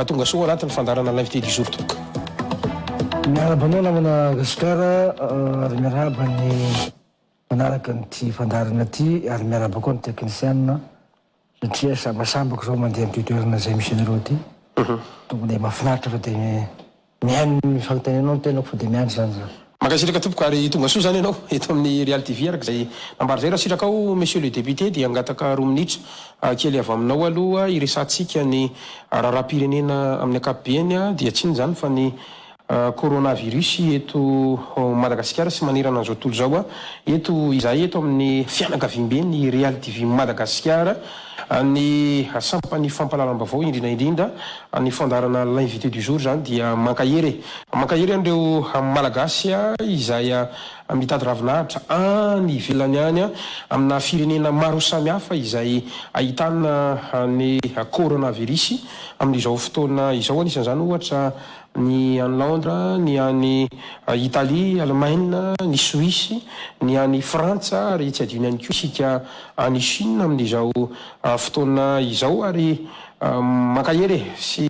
Hahatonga soa ho anatin'ny fandaharana Live Teddy Jour tompoko. Miarahaba anao namana Gasikara ary miarahaba ny mpanaraka an'ity fandaharana ity ary miarahaba koa ny teknisianina satria sambasambako izao mandeha amin'ity toerana izay misy anareo ity, tokony mahafinaritra fa dia. Mihaino ny fanontanianao ny tenako fa dia miandry izany za. Mankasitraka tompoko ary tongasoa izany ianao eto amin'ny Real TV araka izay nambara izay raha sitrakao Monsieur le Député dia hangataka roa minitra kely avy aminao aloha hiresahantsika ny raharaham-pirenena amin'ny ankapobeny dia tsy inona izany fa ny coronavirus eto Madagasikara sy manerana an'izao tontolo izao eto izahay eto amin'ny fianakaviamben'ny Real TV Madagasikara Ny sampan'ny fampahalalam-baovao indrindra indrindra ny fandaharana L'invité du jour izany dia mankahery e! Mankahery an'ireo Malagasy izay mitady ravinahitra any ivelany any amina firenena maro samihafa izay ahitana ny Coronavirus amin'izao fotoana izao, anisan'izany ohatra ny any Londra, ny any Italia, Alemaina, ny Soisy, ny any Frantsa ary tsy adino ihany koa isika any Chine amin'izao fotoana izao ary mankahery sy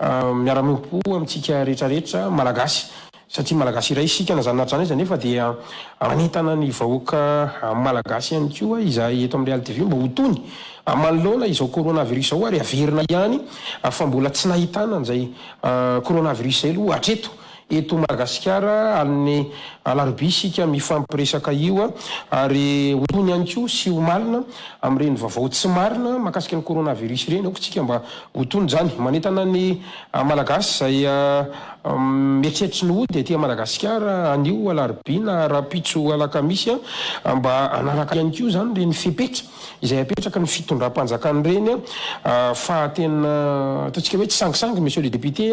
miara-miompo amintsika rehetra rehetra Malagasy. satria Malagasy iray isika na izany na izany aza nefa dia manentana ny vahoaka Malagasy ihany koa izahay eto amin'ny Real TV mba ho tony manoloana izao coronavirus izao ary averina ihany fa mbola tsy nahitana an'izay coronavirus izay aloha hatreto eto Madagasikara amin'ny alarobia isika mifampiresaka io ary ho tony ihany koa sy ho malina amin'ireny vavao tsy marina makasika ny coronavirus ireny aoka isika mba ho tony izany manentana ny An Malagasy izay mieritreritra tsy ny hody aty Madagasikara anio alarobia na rahampitso alakamisy mba hanaraka ihany koa izany ireny fepetra izay apetraky ny fitondram-panjakana ireny fa tena ataontsika hoe tsy sangisangy Monsieur le Député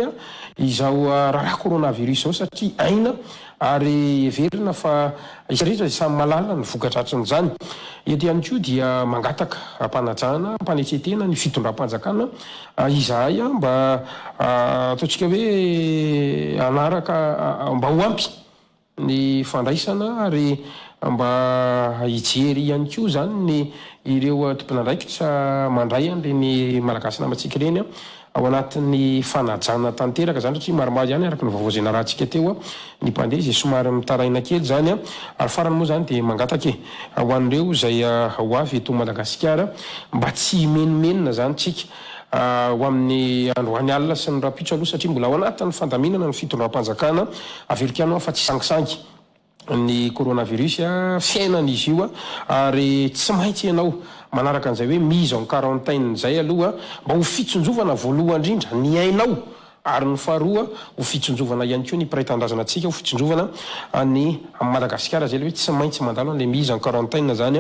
izao raharaha coronavirus izao satria aina Ary heverina fa isika rehetra dia samy mahalala ny voka-dratsin'izany. Eto ihany koa dia mangataka am-panajana, am-panetren-tena ny fitondram-panjakana izahay mba ataontsika hoe hanaraka, mba ho ampy ny fandraisana ary mba hijery ihany koa izany ny ireo tompon'andraikitra mandray an'ireny Malagasy namantsika ireny. ao anatin'ny fanajana tanteraka izany satria maromaro ihany araka ny vaovao izay narahantsika teo ny mpandeha izay somary mitaraina kely izany ary farany moa izany dia mangataka e ho an'ireo izay ho avy eto Madagasikara mba tsy himenomenona izany tsika ho amin'ny androany alina sy ny rahampitso aloha satria mbola ao anatin'ny fandaminana ny fitondram-panjakana avy erikany aho fa tsy sangisangy ny coronavirus fiainan izy io ary tsy maintsy ianao manaraka an'izay hoe mise en quarantaine izay aloha mba ho fitsinjovana voalohan indrindra ny ainao ary ny faharoa ho fitsinjovana ihany koa ny mpiray tanindrazana antsika ho fitsinjovana ny Madagasikara izay le hoe tsy maintsy mandalo an'ilay mise en quarantaine izany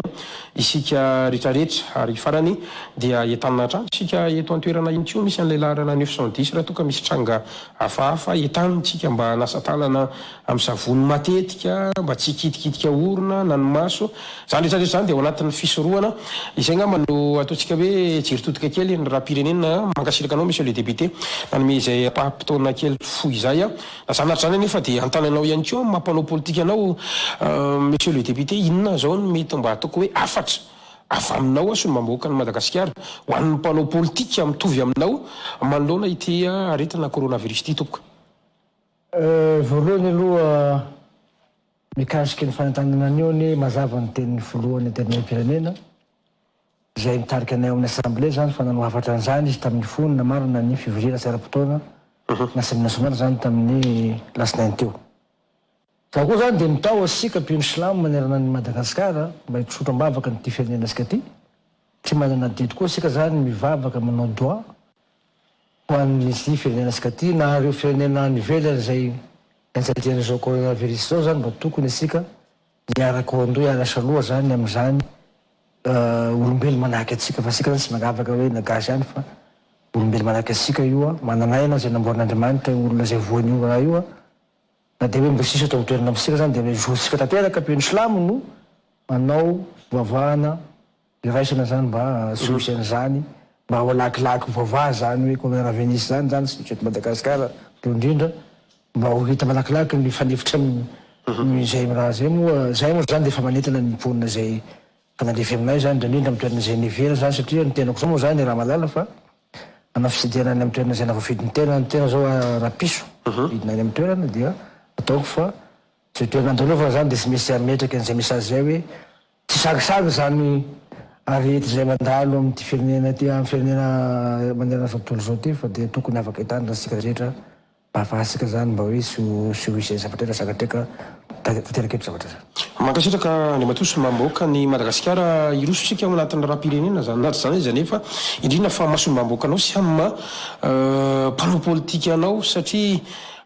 isika retraretra ary farany dia entanina hatrany isika eto an-toerana ihany koa misy an'ilay laharana neuf cent dix raha toa ka misy tranga hafahafa entanintsika mba hanasa tanana Amin'ny savony matetika mba tsy hikitikitika orona na ny maso. Izany rehetra rehetra izany dia ao anatin'ny fisorohana. Izay angamba no ataontsika hoe jiro todika kely ny rahapirenena. Mankasitraka anao Monsieur le Député nanome izay ampaham-potoana kely fohy izay. Lazana ary izany anefa dia hanontany anao ihany koa amin'ny maha mpanao politika anao Monsieur le Député, inona izao no mety mba ataoko hoe hafatra avy aminao sy ny maha-bahoakan'i Madagasikara ho an'ny mpanao politika mitovy aminao manoloana ity aretina coronavirus ity tompoko? Voalohany aloha mikasika ny fanantanana anio anie mazava ny tenin'ny filohan'ny antenimieram-pirenena izay mitarika anay ao amin'ny assemblée zany fa nanao hafatra an'izany izy tamin'ny fony namarana ny fivoriana tsy ara-potoana na assemblée nationale zany tamin'ny lasinainy teo. Fa koa zany dia mitaho antsika mpino silamo manerana an'i Madagascar mba hitrosotra am-bavaka an'ity firenena antsika ity, tsy manana adidy koa isika zany mivavaka manao doa Ho an'ny Minisitry ny Firenena sy Katy, na ireo firenena any ivelany izay enjadian'izao coronavirus izao izany mba tokony isika hiaraka ho andoha hiarasa loha izany amin'izany olombelo manahaka antsika fa isika izany tsy manavaka hoe na gasy ihany fa olombelo manahaka antsika io an, manana aina izay namboarin'Andriamanitra io olona izay voan' io raha io an, na dia hoe mbola tsy nisy eto an-toerana amintsika izany dia hoe zotsika tanteraka toy ny silamo no manao fivavahana Iraisana zany mba solution zany mba ho lakilaky mivava zany hoe comme raha Venise zany zany tsy misy eto Madagascar teo indrindra mba ho hita malakilaky ny fanefitra ny izay raha zay moa zay moa zany dia efa manentana ny mponina izay efa nandefy aminay zany indrindra indrindra amin'ny toerana izay nevera zany satria ny tenako zao moa zany raha malala fa hanao fitsidihana any amin'ny toerana izay na voafidy ny tena ny tena zao raha piso vidina any amin'ny toerana dia ataoko fa izay toerana andalovana zany dia tsy misy ametraka an'izay message izay hoe Tsy sarosarotra izany aretina izay mandalo amin'ity firenena ity, amin'ny firenena manerana izao tontolo izao ity, fa dia tokony afaka hitandrina isika rehetra mba hahafahantsika izany mba hoe tsy ho tsy ho hisy izay zavatra iray zakatreka tanteraka eto zavatra izay. Mankasitraka Andriamatoa sy Mambôka ny Madagasikara hiroso isika ao anatin'ny raharaham-pirenena izany na tsy izany aza nefa indrindra fa masom'Mambôkanao sy am mpanao politika anao satria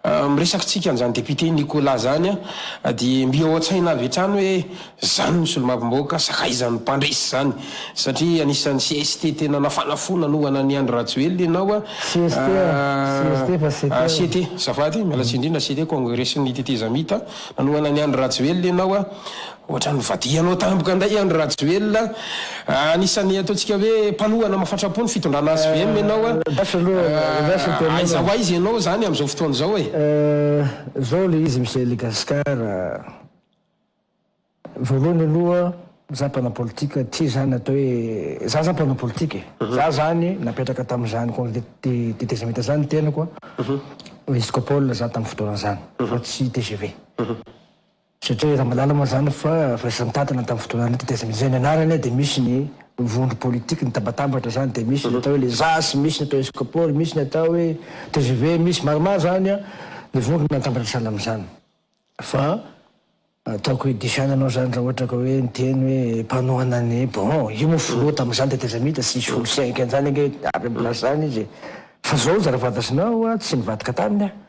Am resakitsika an'izany député Nicolas zany a de mby ao an-tsaina avy hatrany hoe zany no solombavambahoaka sakaizan'ny mpandresy zany satria anisan'ny cst tena nafana fo nanohana an'i Andry Rajoelina ianao a CST a, CST fa CT a. CT, azafady, miala tsiny indrindra CT, Kongresin'ny Tetezamita, nanohana an'i Andry Rajoelina ianao a, Ohatran'ny vadihanao tampoka indray Andry Rajoelina a! Anisan'ny ataontsika hoe mpanohana mafatrapo ny fitondrana hvm ianao a! Aiza ho aiza ianao izany amin'izao fotoana izao e! Zao ilay izy Monsieur le Gascar a! Voalohany aloha za mpanao politika tsy izany atao hoe za zany mpanao politika e! Za zany napetraka tamin'izany congé de détachement zany ny tenako a! Rescopole za tamin'ny fotoana zany fa tsy tgv. Satria efa malala moa izany fa firaisan-tantana tamin'ny fotoana an'ity tetikasa izay ny anarany dia misy ny vondro politique nitabatambatra izany dia misy ny atao hoe les zas, misy ny atao hoe Scopol, misy ny atao hoe tgv, misy maromaro izany ny vondro natambatra sahala amin'izany fa ataoko hoe diso ihany ianao izany raha ohatra ka hoe miteny hoe mpanohana ny bon io moa filoha tamin'izany tetezamita tsy nisy olo cinq an'izany ange avy amin'ny place zany izy fa zao zarafadasinao aho tsy nivadika taminy aho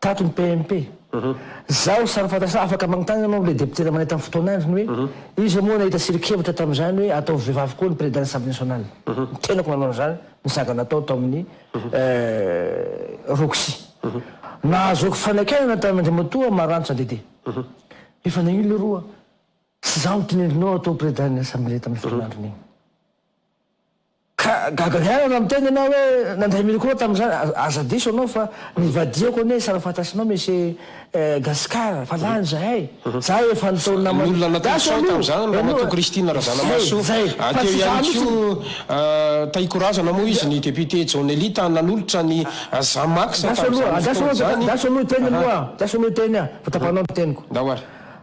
Tato ny PMP. Zaho samy fantatr'ahy afaka magnontany anao amin'ilay depotera manentana ny fotoana androny hoe iza moa nahita siri-kevitra tamin'izany hoe ataovy vehivavy koa ny président assemblée nationale. Ny tenako nanao an'izany ny saga natao tao amin'ny Roxy. Nahazoako fanakianana tany Andriamatoa Maranitra Dédé. Efa nahino leroa. Tsy izaho no tinendrinao atao président ny assemblée tamin'iny fotoana androny iny. Ka gaga ihany raha miteny ianao hoe nandray micro tamin'izany, aza diso ianao fa nivadihako anie sara fantatrinao Monsieur Gascar fa lany izahay, za efa nitaony namana, Ny olona natao sao tamin'izany Ramatoa Christine Razanamahasoa, teo ihany koa Tahiko Razana moa izy, ny député John Elita nanolotra ny Zamax tamin'izany fotoana izany, Andraso aloha hiteny aloha, andraso aloha hiteny aho, vao tapahinao ny teniko. Ndao ary.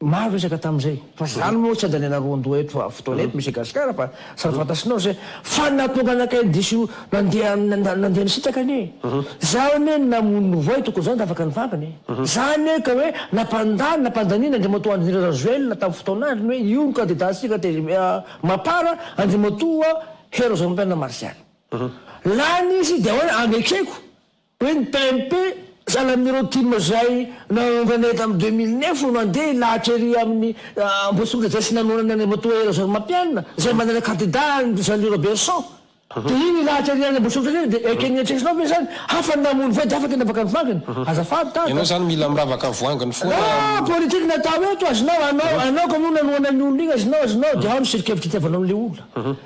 Maro resaka tamin'izay fa zany moa tsy andaniana roandoha eto fotoana eto Monsieur Gasikara fa samy fantasinao izay fa nahatonga anakay diso nandeha nandeha nisitraka anie za anie namono ny voay tokony zany tafaka ny vavany za anie ka hoe nampandany nampandaniana Andriamatoa Andry Nirina Rajoelina tamin'ny fotoan'andriny hoe io no candidat antsika tez mapar Andriamatoa Hery Rajaonarimpianina Martial lany izy dia ahoana anekeko Hoe ny PNP, sahala amin'ireo tim izay nahaonganay tamin'ny deux mille neuf no nandeha hilahatra ery amin'ny Ambohitsimandrajay sy nanonana an'i Ramatoa Hery Rajaorimampianina izay manana kandida an'i Jeanly Roberson. Dia iny hilahatra ery any Ambohitsimandrajay iny dia ekeny eritreretinao ve izany? Hafa ny namono voay dia hafa ny nanavaka ny voanginy? Azafady Tata. Ianao izany mila miravaka voanginy foana a. Raha politique no atao eto, azonao, anao, anao kay moa nanohana an'io olona iny, azonao, azonao, dia ao ny siri-kevitra itiavanao an'ilay olona.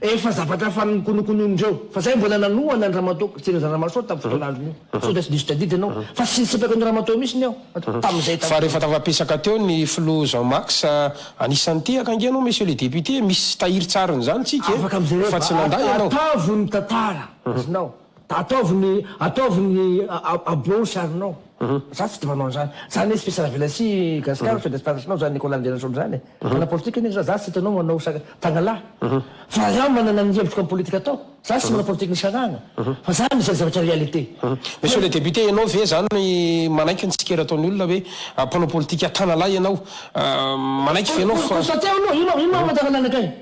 Efa zavatra efa nokonokonoin'ireo fa zay mbola nanohana an'i Ramatoa Christine Razanamahasoa tamin'ny fotoan'androny io. Sao dia tsy diso tadidy ianao fa tsy nisipaka an'i Ramatoa mihitsiny aho tamin'izay tamin'izay. Fa rehefa tafapisaka teo ny filoha Jean Max anisan'ny tehaka ange ianao monsieur le député misy tahirin-tsariny izany tsika e fa tsy nandà ianao. Afaka mijereva fa atavo ny tantara azonao. Ataovy ny ataovy ny aboaho sarinao. Za tsy tia manao an'zany. Zany izy fils ravelasi gascar feux d'espace nao zany Nicolas Andrianasolo zany e. Mpanao politika anie za. Za tsy hitanao manao sary tagnalahy. Fa rah manana ny hevitro am politika atao. Za tsy manao politika nisarahana. Fa za mizary zavatra réalité. Monsieur le député ianao ve zany no manaiky ny tsikera ataon'ny olona hoe mpanao politika tanalahy ianao? Manaiky ve ianao fa. Constater aloha, ino ino maha amantarana anakay?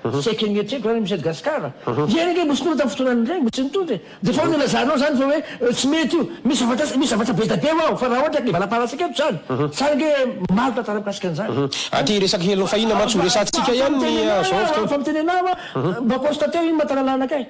Saika ny eritreritro ary misy an'i Gascar. Ianao ange mbola tsy tonga tamin'ny fotoana an'ireny, mbola tsy nitondra e! Dia efa nilazanao izany fa hoe tsy mety io. Misy zavatra, misy zavatra be dia be ho'aho fa raha ohatra ka hivalam-pahalasaka eto izany, sa ange maro tantara mikasika an'izany? Aty resaka Hello Fahina mantsy ho resahantsika ihany ny zao fotoana. Efa miteny anao aho, mba constater iny mahatalalana kay.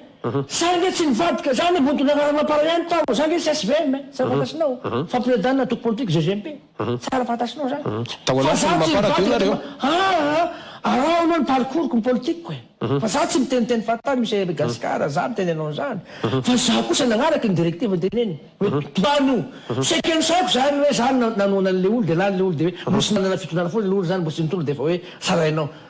Sa ange tsy nivadika izany e, mody niraharaha nampara ihany tao, za ange tsy HVM e, tsy afa-fantasinao, fa President-na antoko politika, GGMP. Tsara fantatrinao izany. Tao anatin'ny mamparadro ianareo. Aa! Araho aloha ny parcours-ko, ny politique-ko e! Fa za tsy miteniteny fantany Monsieur Eregascar, za miteny anao izany. Fa za kosa nagnaraka ny directive-ny dia neny. Hoe mpitomany io. Seke nosaiko izany hoe za nanohana an'ilay olo dia lany ilay olo dia hoe mbola tsy nanana fitondrana foana ilay olo izany, mbola tsy nitondra dia efa hoe tsarainao.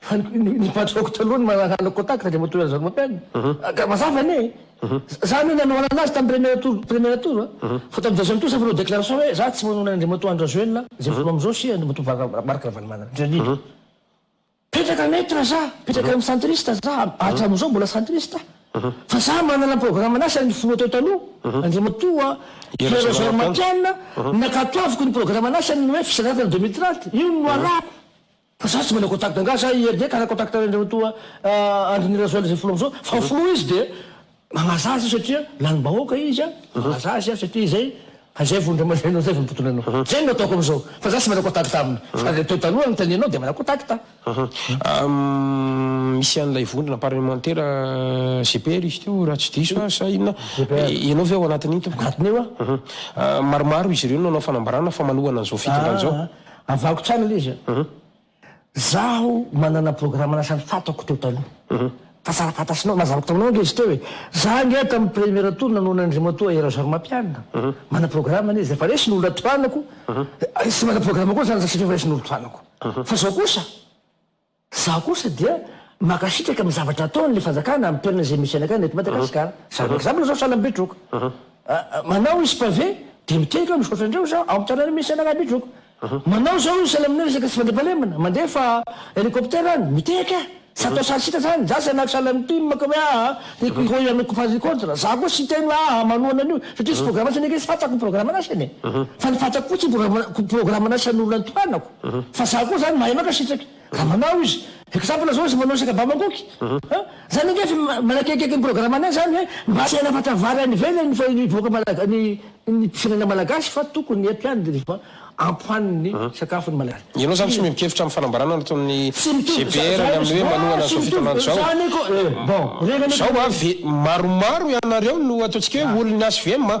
Fa ny patroko taloha no manangana contact dia matory an'izany mampianina. Ka mazava anie e! Za anie nanohanana azy tamin'ny premier tour, premier tour a! Fa tamin'ny deuxième tour za efa nanao déclaration hoe za tsy manao an'Andriamatoa Andrens Joelina izay voaloha amin'izao sy Andriamatoa Marc Ravalomanana, je l'ai dit. Petraka neutre za, petraka amin'ny centriste za, hatramin'izao mbola centriste aho. Fa za manana programme an'ahy saingy ny filoha teo taloha, Andriamatoa Pierre Jean Mampianina, nakatoaviko ny programme an'ahy saingy ny hoe fisedrana tany deux mille trente, io no noalako. Fa za tsy manao contact angaha za i Hervé ka hana contact an'ireo toa Andry Nirazoel izay filoha amizao fa filoha izy dia magnaza azy io satria lanim-bahoaka izy a magnaza azy a satria izay fa izay vao indray mandeha anao izay vao mitontona anao izay no ataoko amizao fa za tsy manao contact aminy fa le teo taloha notanianao dia manao contact Ahm, misy an'ilay vondrona parlemantera GPR izy teo raha tsy diso aho sa inona? Ianao ve ao anatin'iny tompoko? Anatin'io aho. Ahm, maromaro izy ireo no nanao fanambarana fa manohana an'izao fitondrana izao. Avahako tsara ilay izy a. Zaho manana programme anasan'ny fatako teo taloha. Tantara fantatrinao, nazavako taminao ange izy teo e. Za ange tamin'ny première tour nanohana an'Andriamatoa Air Zormampianina. Manana programme anie izy, efa resy ny olona tohanako. Tsy manana programme koa za satria efa resy ny olona tohanako. Fa zao kosa. Izaho kosa dia mankasitraka amin'ny zavatra ataon'ny fanjakana amin'ny toerana izay misy anakay na eto Madagasikara. Izany hoe example izao sahala am'Betroka. Manao izy pavé dia miteny fa misaotra andreo izaho ao amin'ny tanàna misy anakay Betroka. Manao izao izy sahala amin'ny resaka tsy fandriampahalemana, mandefa hélicoptère any, miteny ahy. Tsy atao sahala antsika izany. Izaho tsy hanahaka sahala amin'i Tim ka hoe aa tiako hihoy anao ko faly contre. Izaho koa tsy hiteny hoe aa manohana an'io satria tsy programantsika ny ankizy, fantako ny programan'asany e. Fa ny fantako koa tsy ny programan'asan'olona notohanako. Fa za koa zany mahay maka sitraky raha manao izy. Exemple zao izy manao saka ba mangoky an! Zany ange efa manakekieky ny programme anay zany hoe mba tsy hanafatra vary any ivelany fa ny vahoaka malaga ny ny firenena malagasy fa tokony ampiany rehefa ampoany ny sakafo ny malagasy. Ianao zany tsy miova kevitra amin'ny fanambarana nataon'ny GBR ny amin'ny hoe manohana izao fitondrana izao? Zao avy maromaro ianareo no ataontsika hoe olon'ny HVM an!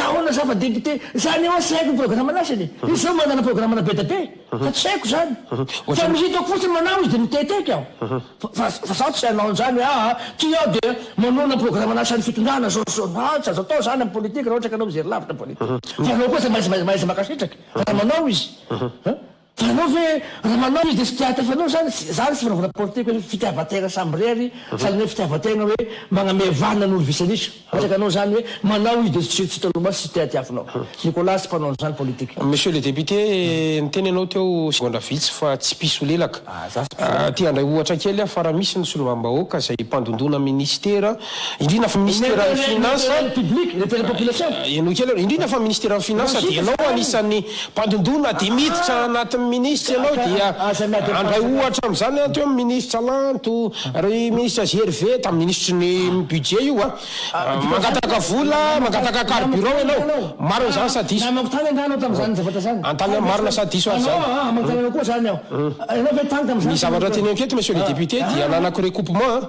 Ka ahoana za fa député? Za anie hoa tsy haiko ny programme-ny asany e! Izy zao manana programme-na be dia be fa tsy haiko zany! Fa ny hitako fotsiny manao izy dia miteteka aho! Fa fa zaho tsy hanao an'izany hoe aa ty aho dia manohana ny programme-na asan'ny fitondrana zao sy zao! Aa tsy azo atao zany amin'ny politique raha ohatra ka anao mijery lavitra ny politique! Fa anao koa tsy maintsy mahay mankasitraka raha manao izy! Fa ianao ve raha manao izy dia tsy te hahatefa anao izany? Tsy izany tsy fanaovana politika hoe fitiavan-tena samirery fa ilay fitiavan-tena hoe magname vanona ny olo-visanisa. Mametraka anao izany hoe manao izy dia tsy tsy hitanao maso, tsy te hatiafy anao. Nicolas tsy mpanao an'izany politika. Monsieur le député, niteny ianao teo segondra vitsy fa tsy mpisolelaka. Te handray ohatra kely aho fa raha misy ny solombavambahoaka izay mpandondona minisitera Indrindra fa minisiteran'ny Finansa, henoy kely aloha, indrindra fa minisiteran'ny Finansa dia ianao anisan'ny mpandondona dia miditra anatin'ny minisitra ianao dia handray ohatra amin'izany an, teo ny minisitra Lanto, ry minisitra GRV, tamin'ny minisitry ny Budget io an, mangataka vola, mangataka carburant ianao, marina izany sa diso? An-tany marina sa diso aza izany? Ny zavatra teneniko eto Monsieur le Député dia ananako recoupement an.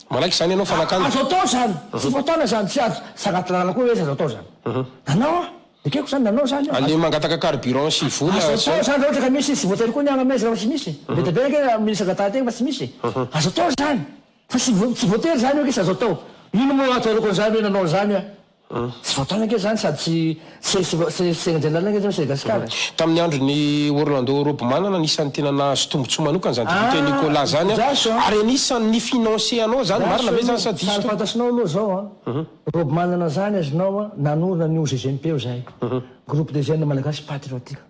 Manaiky izany ianao fanakana. Azo atao izany. Tsy fotoana izany. Tsy azo. Tsy anaty lalana koa hoe izy azo atao izany. Nanao aho. Ekeko izany nanao izany aho. Aleha mangataka carburant sy vola. Azo atao izany raha ohatra ka misy izy. Tsy voatery koa ny agny aminay izany raha tsy misy. Be dia be ange raha misy angatahantegna fa tsy misy. Azo atao izany. Fa tsy voa, tsy voatery izany hoe izy azo atao. Ino moa ato aoriako an'izany hoe nanao an'izany aho. Tsy voataona ange izany sady tsy tsy tsy tsy resena general ange izany eto Gasikara e. Tamin'ny andron'i Orlando Robman no anisan'ny tena nahazo tombontsoa manokana izany député Nicolas izany an, ary anisan'ny ni-financer anao izany, marina ve izany sa diso Sary fantatrinao aloha izao an, Robman izany azonao an, nanorina ny OGGMP-o izahay, Groupe des Jeunes Malagasy Patriotiques.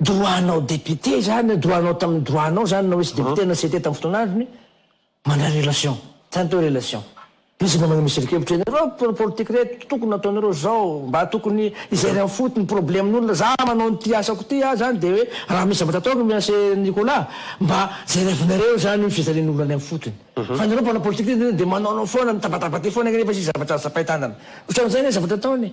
Droit nao député zany, droit nao tamin'ny droit nao zany na hoe tsy député na CT tamin'ny fotoana androny, mandray relation, zany atao hoe relation. Izy mba maneho miserinkevitra eny, ireo mpanao politique reto tokony nataonareo zao, mba tokony izay ray amfotony problemn'olona, za manao an'ity asako ity ah zany de hoe raha misy zavatra ataoko Mianse Nicolas, mba jerevinareo zany ny fijalian'olona any amfotony. Fa nareo mpanao politique reto de manaonao foana, mitabataba aty foana nefa tsisy zavatra zapain-tanana. Otran'izay le zavatra ataony.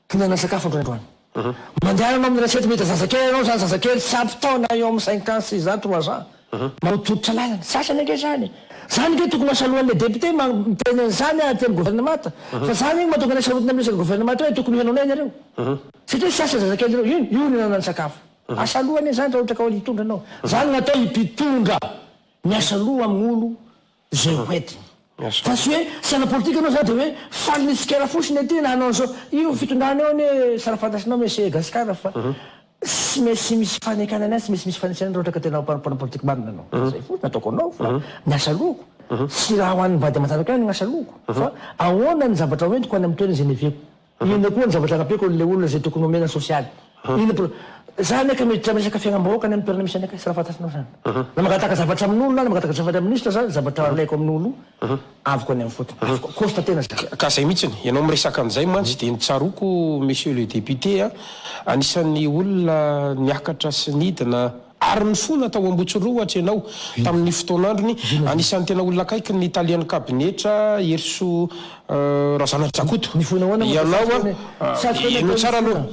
Mihinana sakafo indray androany. Mandeha manao amin'ny resety mety zazakely ianao izany zazakely tsy ampy taona eo amin'ny cinq ans, six ans, trois ans. Maotototra lalana. Sasany ange izany. Izany ange tokony ho asalohan'ilay député miteny an'izany aty amin'ny gouvernemata. Fa izany ange no mahatonga anay sarotiny amin'ny resaka gouvernemata hoe tokony ho henonay nareo. Satria tsy asa zazakely ireo. Io io no ihinanany sakafo. Asaloha anie izany raha ohatra ka hitondra ianao. Izany no atao i mpitondra. Miasaloha amin'olo izay ho entiny. Fa tsy hoe saina politika anao zany de hoe faly ny tsikera fotsiny aty na hanao an'izao. Io fitondrana io anie sara fantasinao monsieur i Gasikara fa tsy maintsy misy fanekana ny azy, tsy maintsy misy fanitsana raha ohatra ka tena mpanao politika marina anao. Izay fotsiny ataoko anao fa ny asa aloako. Tsy raha ho an'ny vady aman-janako ihany ny asa aloako fa ahoana ny zavatra ho entiko any amin'ny toerana izay niaviako. Inona koa ny zavatra anampiako an'ilay olona izay tokony omena sosialy? Inona pro. Za anie ka miditra amin'ny resaka fiainam-bahoaka any amin'ny toerana misy anay ka, sara fantasinao izany. Na mangataka zavatra amin'olona aho, na mangataka zavatra amin'ny minisitra za, ny zavatra alaiko amin'olo, avoko any amin'ny fotony. Avoko, costa tena za. Ka zay mihitsiny, ianao miresaka an'izay mantsy dia ny tsaroako Monsieur le Député a, anisan'ny olona niakatra sy nidina, Ary nifona tao Ambotsirohotra ianao tamin' ny fotoan'androny. Anisan'ny tena olona akaikin' ny talian'ny kabinetra Heriso Razanadrakoto ianao a. Heno tsara aloha.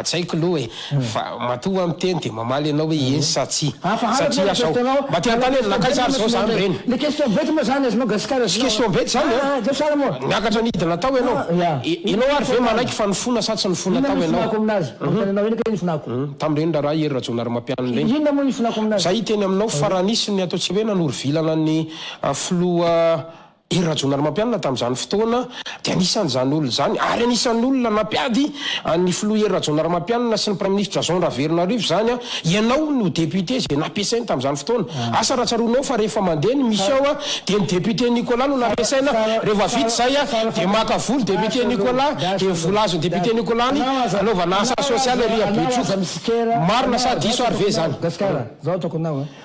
Tsy haiko aloha e. Fa matoa hoa miteny dia mamaly ianao hoe eny sa tsia. Satria aho izao mba te hanontany hoe nakaisa ary izao izany ireny. Tsy question bety izany a. Niakatra nidina tao ianao. Ianao ary ve manaiky fa nifona sa tsy nifona tao ianao. Manontany anao ihany anie ny fonako. Tamin'ireny raharaha i Hery Rajaonarimampianina ireny. Inona moa ny fonako amin'azy? Izay hiteny aminao fa raha nisy ny atao tsy hoe nanoro-vilana ny filoha Hery Rajaonarimampianina tamin'izany fotoana dia anisan'izany olona izany ary anisan'ny olona nampiady an'ny filoha Hery Rajaonarimampianina sy ny Praiminisitra Jean Raveronarivo izany Ianao no député izay nampiasainy tamin'izany fotoana. Asa raha tsaroanao fa rehefa mandeha ny mission a dia ny député Nicolas no nampiasaina, rehefa vita izay a dia maka vola député Nicolas dia ny vola azon'i député Nicolas ny hanaovana asa social ery Betroka. Marina sa diso ary ve izany?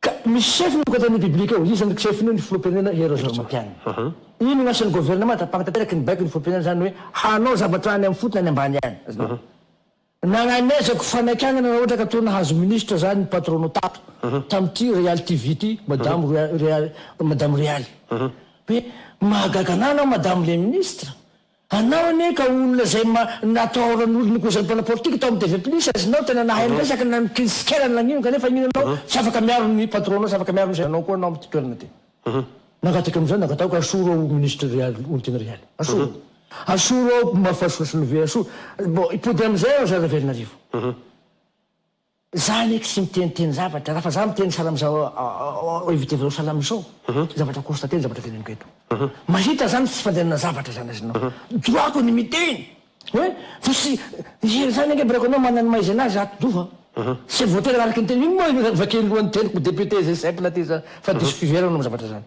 Ka misy chef ny Ankoatan'ny Biblika ao, iza ny chef-ny io ny Filoham-pirenena Hery Rajaonarimampianina. Inona ny asan'ny Governemanta hampankateraky ny baikon'ny Filoham-pirenena izany hoe hanao zavatra any amin'ny fotony any ambany any. Nagnanezako fanakiagnana raha ohatra ka toa nahazo ministra zany ny Patrono tato tamin'ity Real TV ity Madamo Real Madamo Realy hoe mahagaga anah anao Madamo le ministra Anao anie ka olona izay ma natahoran'olona koa izany mpanao politika tao amin'ny TV plus azy nao tena nahay miresaka na ny crise kely any lagnino kanefa inona anao tsy afaka miaro ny patronao tsy afaka miaro ny zenanao koa anao amin'ity toerana ty nangataka an'izao nangataoko asoro ao ministre real olontiana real asoro asoro ao mafasoson've asoro bon hipody amin'izay aho zara velona arivo. Za anie tsy miteniteny zavatra, raha fa za miteny salam za éviter vao salam izao, zavatra constater ny zavatra teneniko eto. Mahita za ny tsy fandehanana zavatra zany azy nao. Droit-ko ny miteny. Hoe fa tsy hira zany ange break anao manana ny maha izy anazy ato doha an. Tsy voatery araka ny teniko. Ino moa io vakeny lohan'ny teniko député zay simple aty zany fa diso fiheverana ny zavatra zany.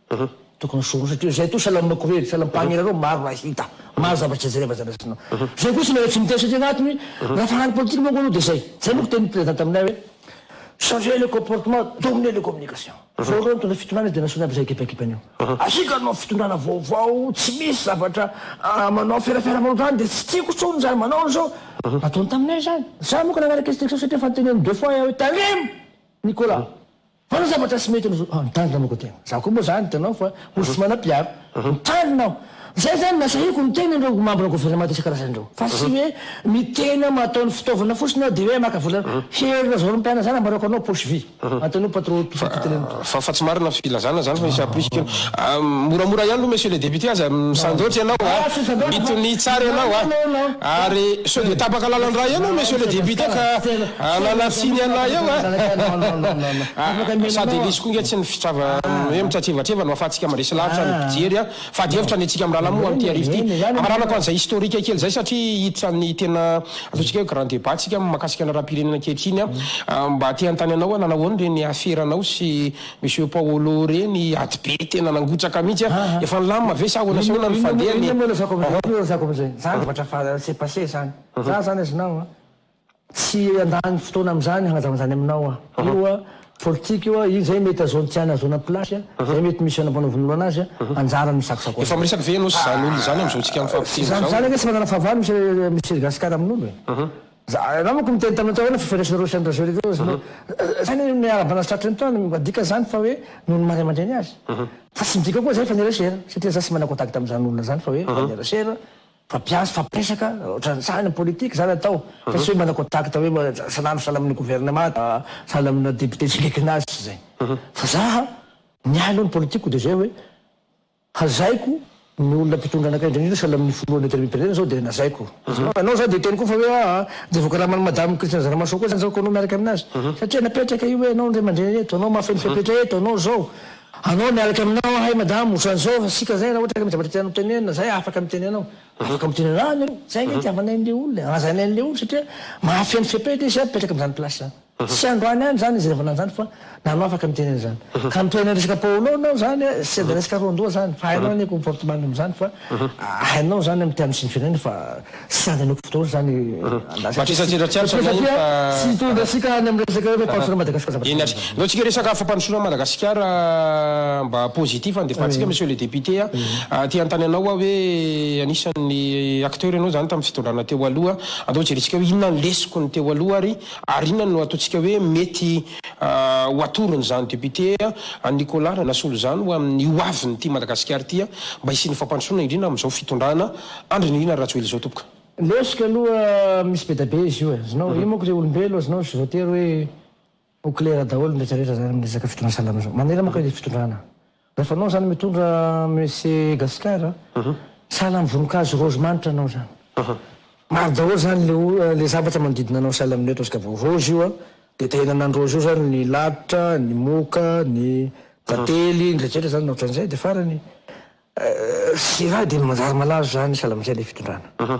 Tokony soa satria izay toa salam makorely, salam pagnirareo maro raha hita, maro zavatra jereva zany rasinao. Izay koa tsy mila tsy miteny satria agnaty ny rafahany politika manko aloha dia izay. Izay manko tenin'ny président taminay hoe changer le comportement, dominer le communication. Zao reo nitondra fitondrana dia nasaony aby izay ekipaekipany eo. Asiaka anao fitondrana vaovao tsy misy zavatra manao ferafera manao izany dia tsy tiako tsony izany manao an'izao. Nataony taminay izany. Za manko nagnaraka instruction satria efa noteneniny deux fois aho hoe tandremo Nicolas. Manao zavatra tsy mety no ah mitandrina moko tegna. Za koa moa zany hitanao fa olo tsy manam-piaro. Mitandrina aho. Zay zany no nasahiko ny tegna ireo mambra gouvernemanta isan-karazany ireo. Fa tsy hoe ny tegna mahatao ny fitaovana fotsiny aho de hoe maka vola hery lazao ry mpianany zany ambarako anao poche vide. Manontaniao patron tout tout le monde. Fa fa tsy marina filazana zany fa misy aprisy kely. Ah moramora ihany aloha monsieur le député aza misandoatra ianao ah. Mitonia tsara ianao ah. Ary sao dia tapaka lalan-drà ianao monsieur le député ka Ananasiny ialahy eo a! Ahh! Sady elisy koa nge tsy ny fitrava hoe mitratrevatreva no ahafahantsika mandresy lavitra ny mpijery a! Fady hevitra ny antsika mirahalahy moa amin'ity arivo ity. Amaranako an'izay historique kely izay satria hiditra ny tena ataontsika hoe grand débat tsika mahakasika ny raharaham-pirenena ankehitriny a! Mba te hanontany anao hoe nanao ahoana ireny afera anao sy Monsieur Paolo ireny? Ady be tena nangotraka mihitsy a! Efa nilamina ve sa ahoana sy ahoana no fandeha ny. Inona moa no resako amin'izay? Inona moa no resako amin'izay? Zany zavatra efa s'est passé zany. Za zany azonao a! Tsy handany fotoana amin'izany hagnazava an'izany aminao aho. Io politika io, iny izay mety hahazoany tiany hahazoana place, izay mety misy hanampanavonoloana azy, anjarany no sakosakosana. Efa miresaka ve ianao sy izany olona izany amin'izao tsika mifampiteny izao? Izany anie tsy manana fahavalo Monsieur Monsieur Gascar amin'olo e. Za, ianao manko niteny taminay tao hoe na fifandraisanareo sy an'i Rajoelina teo izy no, izany anie miarahaba anao sy tratry ny taona, mba dikany izany fa hoe noho ny maha ray aman-dreny azy. Fa tsy midika koa izay fa niresena, satria za tsy manana contact amin'izany olona izany fa hoe efa niresena, Mpampiantso fampiresaka ohatran'ny sahy ny politique zany atao fa tsy hoe manao contact hoe salama salama amin'ny gouvernement salama amina député tsy akaikinao azy tsy zay fa za ny ahy aloha ny politique ko de zay hoe hazaiko ny olona mpitondra anakay indrindra indrindra salama amin'ny filoha Leader Mipetrena zao de nazaiko anao za de hiteny ko fa hoe aa de voakaraman'i madame Christine Zaramasoa ko zany zao ko anao miaraka aminazy satria napetraka io hoe anao ny ray aman-dreny eto anao mahafeno fepetra eto anao zao Anao miaraka aminao ahay madame otran'izao fa sika zay raha ohatra ka misy zavatra tianao tenenina zay afaka miteny anao afaka miteny anao ah nareo zay nge itiavanay an'le olona e hajainay an'le olona satria mahafeno fepetra izy ah mipetraka amin'izany place zany tsy androany andro zany izy revana an'izany fa nanao afaka miteny an'izany ka mitohy any resaka paolo nao zany ah sendra resaka roandoha zany fa hainao anie comportement-ny amin'izany fa Hainao zany mity aminy firenena fa tsy sady hanoko fotoana zany andrasako. Matrisaka tsy hitantsika ato zany fa. Tsy hitondra antsika any amin'ny resaka hoe fampandrosoana Madagascar zavatra zany. Aleo tsika resaka fampandrosoana Madagascar mba positif handefantsika monsieur le député a. Te hanontany anao aho hoe anisan'ny acteur ianao zany tamin'ny fitondrana teo aloha, andao jerentsika hoe inona ny lesoky ny teo aloha ary ary inona no ataontsika hoe mety ho atorony izany député an Nicolas Ranasolo izany ho amin'ny ho avin'ity Madagasikara ity an mba hisian'ny fampandrosoana indrindra amin'izao fitondrana Andry Nirina Rajoely izao tompoko. Lesoka aloha misy bedabe izy io e, azonao, io manko le olombelo azonao tsy voatery hoe ho clair daholo ny retraretra zany am resaka fitondrana salama zao, manera manko le fitondrana Rehefa anao zany mitondra Messe Gasikara sahala am voninkazo rose manitra anao zany. Maro daholo zany le o le zavatra manodidina anao sahala amle ataontsika vao rose io a de tahianana ny rose io zany ny lalitra, ny moka, ny tantely, ny rehetra rehetra zany na otran'izay de farany sy raha de manjary malazo zany sahala amzay le fitondrana.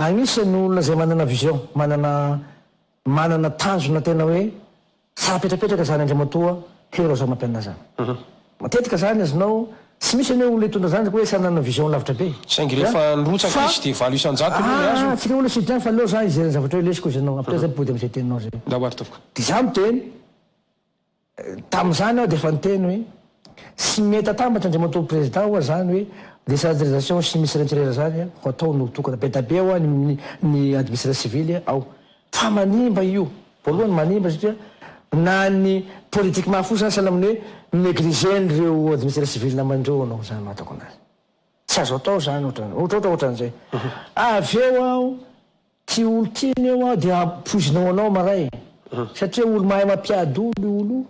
Anisany ny olona izay manana vision, manana manana tanjona tena hoe tsara petrapetraka izany Andriamatoa Hery Rajaomampinina izany. Matetika izany azonao, tsy misy anie olona hitondra izany hoe tsy hanana vision lavitra be. Saingy rehefa nirotsaka izy dia valo isan-jato no nihazona. Tsika olona tsy bien fa aleo za hijery ny zavatra hoe lesy koa izy ianao, après zay mipody amin'izay teninao zay. Dia za miteny. Tamin'izany aho dia efa niteny hoe, tsy mety atambatra Andriamatoa Prezidà ho'a izany hoe décentralisation sy Ministère Intérieur izany ho atao no tokana. Be da be ho'a ny ny administration civile ao. Fa manimba io. Voalohany manimba satria na ny politique mahafoy izany sahala amin'ny hoe mi-négliger-n'ireo administration civile naman'ireo ianao izany no ahatako anazy. Tsy azo atao izany ohatrany, ohatrohatran'izay. Avy eo aho. Tsy olon-tsinona io aho dia poizina ho anao maray satria olo-mahay mampiady olo io olo io,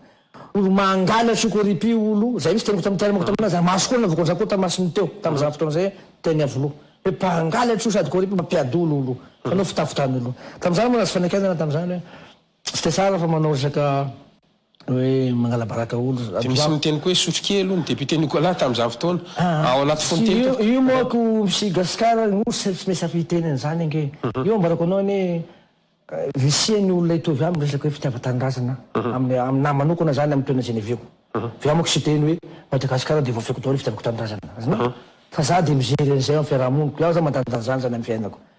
olo-mangalatra io corrupu io olo io, zay mihitsy teniko tam tenako tamin'azy ary maso koa ny navoakan'ny zanako tamasiny teo tamin'izany fotoana izay teny Iavoloha hoe mpangalatra io sady corrupu mampiady olo olo io, fanao fitafy tany olo io tamin'izany moa nahazo fanakianana tamin'izany hoe. Tsy dia tsara fa manao resaka hoe mangalabaraka olo. Dia misy miteny koa hoe sotrokely hono député Nicolas tamin'izany fotoana. Ao anaty fonoteny teo. Io manko misy Gasikara no tsy maintsy afaka hiteny an'izany ange. Io ambarako anao anie risihan'ny olona hitovy aminy resaka hoe fitiavan-tanindrazana aminahy manokana izany amin'ny toerana izay niaviako. Fa izaho manko tsy hiteny hoe Madagasikara dia voafehiko daholo ny fitiavako tanindrazana. Azonao? Fa izaho dia mijery an'izay amin'ny fiaraha-moniko. Izaho izany mandandanja an'izany amin'ny fiainako.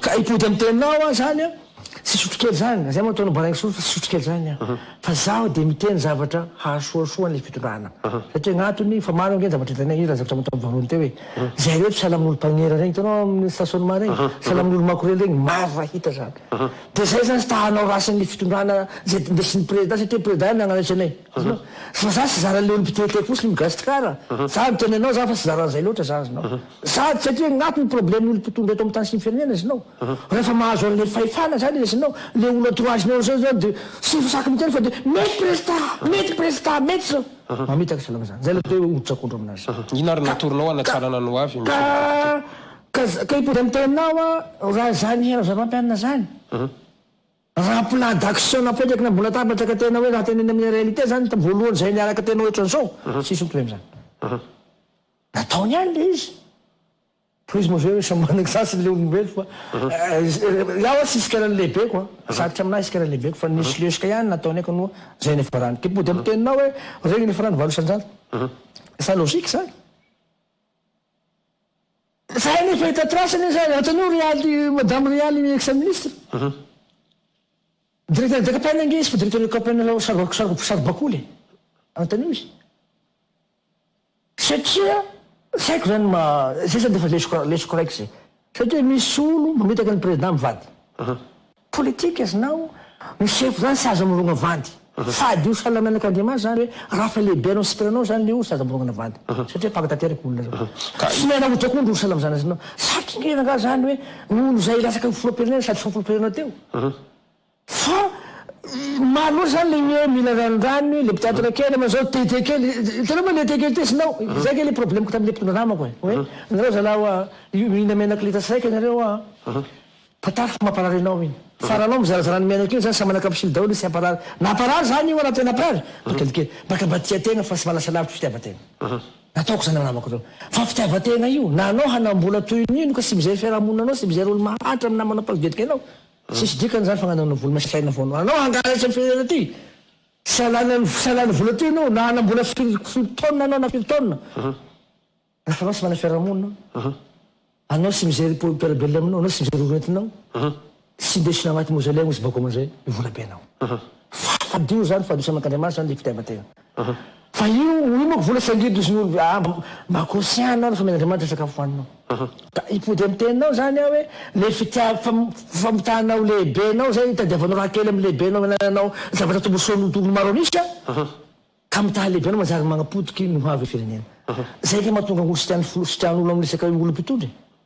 Ka hipody am tenao aho zany an tsy hisotro kely zany, zay moa ataonao baraingo soa fa tsy hisotro kely zany an, fa zaho dia miteny zavatra hahasoasoa an'ilay fitondrana satria gnatony fa maro ange ny zavatra hitanay, io zany zavatra nataony voalohany teo e, zay reto sahala amin'olo mpagnera regny hitanao amin'ny station ma regny, sahala amin'olo makorely regny, maro raha hita zany, dia zay zany ta hanao rasin'ny fitondrana zay ndesin'ny prezida satria prezida ihany nagnanaitre anay, azonao, fa za tsy zaran'ilay olo mpitelitely fosiny migasikara, za miteny anao za fa tsy zaran'izay loatra za azonao. Sady satria agn'aty ny problème olo mpitondra eto amin'ny tany sy ny firenena iznao. Rehefa mahazo an'le fahefana zany iznao, le olo entourage-nao zao iznao de tsy saky miteny fa de mety prezda! Mety prezda! Mety zao! Mamitaka iznao amin'izany. Zay le toe hoditra akondro aminazy. Inona ary no natoronao hanatsarana ny hoavy Monsieur le Député? Ka, ka, ka hipody amin'ny teninao aho raha zany hainao zava-mianina zany. Raha plan d'action napetrakina ambony latabatra ka tena hoe raha tenenina amin'ny réalité zany, voalohany zay niaraka tena ohatran'izao, tsisy mitohy amin'izany. Nataony ihany ilay izy. Tohizo moa ve samy manana ny sasiny ilay olombelo fa izaho aho tsy hisy karany lehibeko an! Sarotra amin'ahy hisy karany lehibeko fa nisy lesoka ihany nataony ahy kanoa izay niafarany. Dia mody amin'ny teninao hoe regny niafarany valo isan-jato. Sa logique izany? Izahay anie efa hita trace anie izany, antonio ry aly, madame ry aly ex ministre. Directeur de campagne ange izy fa directeur de campagne saro-bakoly e! Antonio izy. Satria tsy haiko zany ma, zay zany defa lesoko lesoko raiky zay. Satria misy olo mamitaka ny president mivady. Politique znao no sefo zany sazy amorogna vady. Sady io sahala menak Andriamanitra zany hoe rafa lehibe anao sitrana anao zany le olo sazy amorogna vady. Satria mpaka tanteraka olo zany. Tsy miala ota koa ndry olo sahala am zany znao. Satry ngeza nga zany hoe olo zay latsaka foropirnena sady foropirnena teo. Fa maro loatra zany le hoe mila ranondranony hoe le mpitantana kely aman'zao tete kely hitanao ve le tete kely tesinao zay kay le problemiko tamle mpitondra namako e hoe nareo zalahy oa io mihina menaka litasy raika nareo oa tantara fa mamparary anao iny fa raha anao mizarazara ny menaka iny zany samy manaka msily daholo izy tsy hamparary na hamparary zany io raha tena hamparary mba kelikely mbaka mba tia tegna fa tsy mba lasa lavitry fitiavategna nataoko zany namako reo fa fitiavategna io na anao hanambola toy ny ino ka tsy mizay fiarahamonina anao tsy mizay rôly mahantra amy namanao mpagedika anao Tsisy dikany zany fananana vola masika aina foana. Anao hangalatra ny firenena ty. Tsy halany tsy halany vola ty anao na hanambola firy firy taonina anao na firy taonina. Raha anao tsy manana fiarahamonina. Anao tsy mijery mpiara-belona aminao, anao tsy mijery orintinao. Tsy indesina agnaty mausolée agny izy bakeo amizay, ny volabenao. Fadio zany, fadio tsy aman-kandriamanitra zany le fitiavan-tegna. Fa io io manko vola saingidy sy ny olo ah mba mba conscient anao fa mila Andriamanitra sakafo hoaninao ka hipody am teninao zany ah hoe le fitiav fam famotahanao lehibenao zay itadiavanao raha kely am lehibenao anananao zavatra tombosoanao tokony maro an'isa ka mitaha lehibenao manjary magnapotiky ny ho avy firenena zay ka mahatonga olo sy tiany folo sy tian'olo am resaka olo mpitondra e.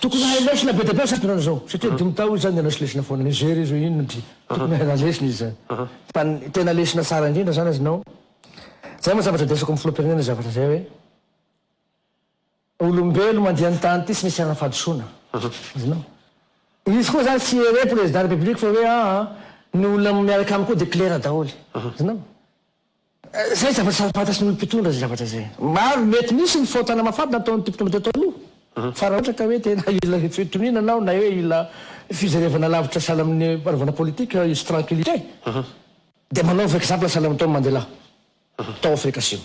Tokony hahay lesona be dia be izato nareo izao satria dimy tao izy zany nianatry lesona foana nigery izy hoe inona ity tokony hahay raha lesona izy zany fa ny tena lesona tsara indrindra zany azonao zay moa zavatra desako amin'ny filoham-pirenena zavatra zay hoe olombelo mandeha ny tany ity tsy misy ara-fahadisoana azonao izy koa zany tsy here président république fa hoe aa ny olona miaraka aminy koa dia claire daholo azonao Izay zavatra samy fantatry ny olom-pitondra izay zavatra izay. Ary mety misy ny fahotana mafady nataon'ity mpitondra teto aloha, fa raha ohatra ka hoe tena hila fitoniana anao na hoe hila fijerevana lavitra sahala amin'ny fanaovana politique hisy tranquillité, dia manaova exemple sahala amin'i Tom Mandela tao Afrika Asimo.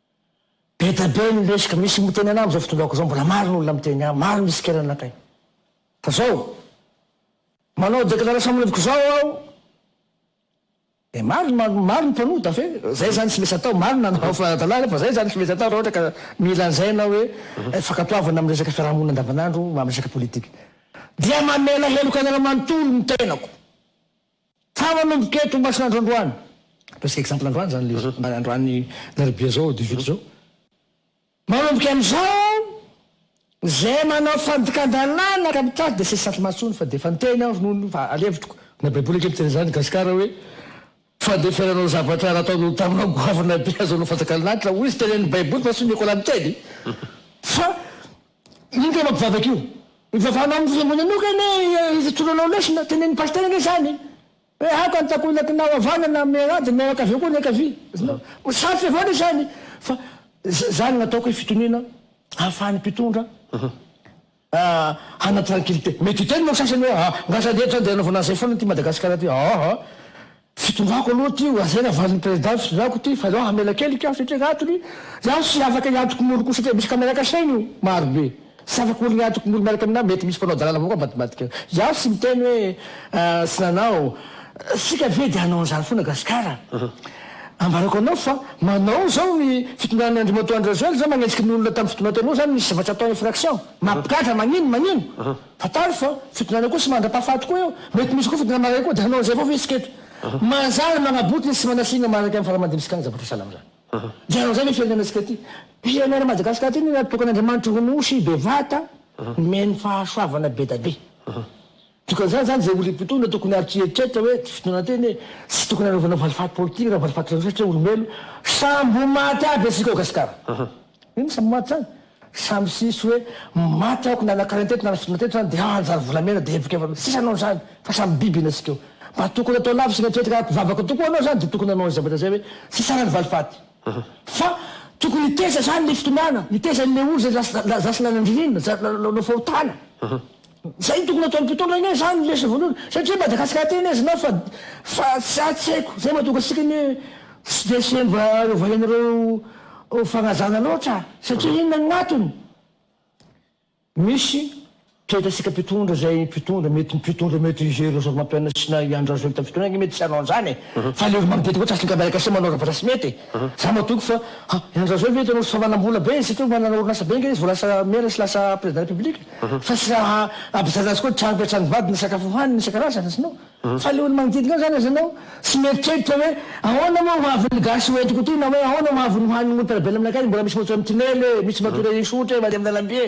Be da be ny lesoka misy miteny anah amzao fotodrako zao mbola maro ny olona miteny ahy maro ny tsikera anakay fa zao manao declaration manoviko zao aho de maro ny maro ny mpanota fe zay zany tsy mesy atao maro ny nanao fa dalala fa zay zany tsy mesy atao raha ohatra ka mila anzaina hoe fankatoavana aminy resaka fiarahamonina andavanandro amresaka politique dia mamela heloka anareo manontolo ny tenako Fa manomboka eto Masinandro androany, ataontsika exemple androany zany le mba androany alarobia zao dix huit zao, manomboka amizao zay manao fandikandalana ka mitady de tsy hisy satromaso tsony fa de efa niteny aho ronono fa alevitriko na baiboly ange miteny zany gasikara hoe fandeferanao zavatra nataonao taminao goavana be azonao fanjakan'lanitra hoy izy teneniny baiboly fa tsy nikolany teny fa Ino kay mampivavaka io? Mivavahana amin'ny vola manoka anie ifitonanao lesona, tenenin'i Pasitera ange izany hoe aoka ny takonaknao havanana amin'ny an'ady ny mianakavy koa ny ankavia. Ho sarotra avao anie izany fa izany no ataoko hoe fitoniana ahafahan'ny mpitondra hanana tranquillité. Mety hiteny manko sasany hoe ah, ngah sady eto izany dia anaovana an'izay foana ity Madagasikara ity, aa. Fitondrako aloha ty ho azera valiny president fitondrako ty fa zao hamela kely ka satria gnatony zaho tsy afaka hiantoko molo ko satria misy camera cacheiny io maro be tsy afaka olo hiantoko molo miaraka aminah mety misy mpanao dalana avao koa ambadimbadika zaho tsy miteny hoe tsy nanao tsika ve de hanao anzany fona gasikara ambarako anao fa manao zao ny fitondran'ny andrimatoa andry rajoel zao magnenjiky ny olona tam fitondran tenao zany ny zavatra ataony infraction mampigadra magnino magnino Fantaro fa fidinana koa sy mandra-pahafaty koa eo. Mety misy koa fidinana maray koa dia hanao an'izay vao ve isika eto? Manjary manabotiny sy manasiana manaraka amin'ny fara-mandimsika ny zavatra sahala amin'izany. Dia hanao an'izay ve firenena isika ity? Pirenena Madagasikara ity no natokan'Andriamanitra ho Nosy bevata nomeny fahasoavana bedabe. Dikan'izany izany izay olona mpitondra tokony ary tsy hieritreritra hoe tsy fidinana teny e! Tsy tokony hanaovana valifaty politika na valifaty ranosatr'olombelona. Sambo maty aby isika ao Gasikara. Inona sambo maty izany? Sa misisy hoe maty aho ko nanakarainy teto na nasotroina teto zany de hanjary volamena de heviko efa sisa anao zany fa samy biby ina sika io mba tokony atao lavitsy ny eritreritry raha mpivavaka tokoa anao zany de tokony hanao anizay mandrakizay hoe tsy sara ny valifaty fa tokony hiteza zany le fitondràna hiteza anle olo zay lasa lasa lasa nanandrinina za nanao fahotana Zay no tokony ataon'ny mpitondra anie zany lesy vonoina satria Madagascar tena izy na fa fa za tsy haiko zay matonga antsika anie tsy dia semba ovainareo fagnajana loatra satria inona no antony misy toetratsika mpitondra zay mpitondra mety mpitondra mety i Roger Razafimampionona sy na i Andry Rajoelina tamin'ny fotoanany mety tsy hanao an'zany e fa le olo manodidina koa tsy asiny ka miaraka asia manao zavatra tsy mety e. Za matoky fa ha i Andry Rajoelina ve hitanao ry savanambola be isika io manana orinasa be nga izy vao lasa mera sy lasa président république fa tsy raha hampijanona azy koa trano be trano vady ny sakafo hohaniny isan-karazany izy no fa le olo magnodidigna azy zany aza anao tsy mieritreritra hoe ahoana moa ho avin'ny gasy ho entiko ty na hoe ahoana ho avin'ny hohanin'ny montarabelona aminakay mbola misy motso amy tinely e misy matory ahisy ohatra e mandeha amin'ny lalamby e.